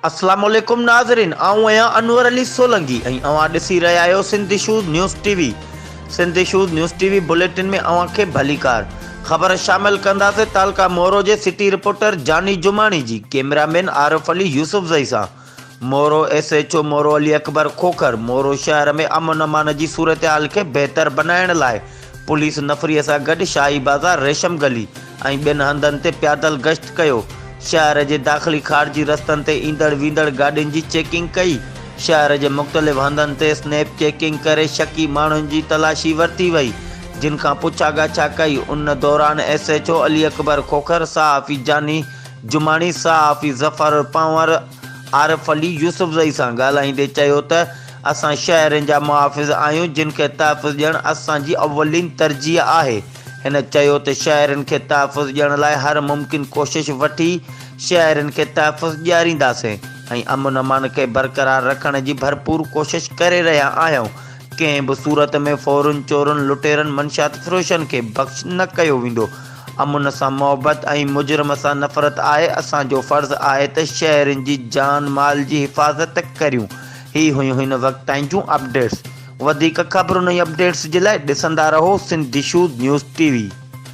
السلام عليڪم ناظرين آئون آهيان انور علي سولنگي ۽ اوهان ڏسي رهيا آهيو Sindh issues news T V Sindh issues news T V bulletin ۾ اوهان کي ڀليڪار خبر شامل ڪنداسين تعلقه مورو جي سٽي رپورٽر جاني جماڻي جي ڪيمرا مين عارف علي يوسفزئي سان Moro, S H O Moro Ali Akbar Khokhar Moro شهر ۾ امن امان جي صورتحال کي بهتر بنائڻ لاء پوليس نفري سان گڏ شاهي بازار، ريشم گلي ۽ ٻين هنڌن تي پيادل گشت ڪيو، شهر جي داخلي خارجي رستن تي ايندڙ ويندڙ گاڏين جي چيڪنگ ڪئي، شهر جي مختلف هنڌن تي سنيپ چيڪنگ ڪري شڪي ماڻهن جي تلاشي ورتي وئي جن کان پڇا ڳاڇا ڪئي، ان دوران S H O Ali Akbar Khokhar صحافي جاني جماڻي صحافي ظفر پنهور عارف علي يوسفزئي سان ڳالهائيندي چيو ته اسان شهرين جا محافظ آهيون جن کي تحفظ ڏيڻ اسان جي اولين ترجيح آهي. هن چيو ته شهرين کي تحفظ ڏيڻ لاء هر ممڪن ڪوشش وٺي شهرين کي تحفظ ڏيارينداسين ۽ امن امان کي برقرار رکڻ جي ڀرپور ڪوشش ڪري رهيا آهيون ڪنهن به صورت ۾ ڦورن چورن لٽيرن منشيات فروشن کي بخش نه ڪيو ويندو امن سان محبت ۽ مجرم سان نفرت آهي، اسان جو فرض آهي ته شهرين جي جان مال جي حفاظت ڪريون. هي هيون هن وقت تائين جون اپڊيٽس. وڌيڪ خبرن ۽ اپڊيٽس جي لاء ڏسندا رهو Sindh issues news T V.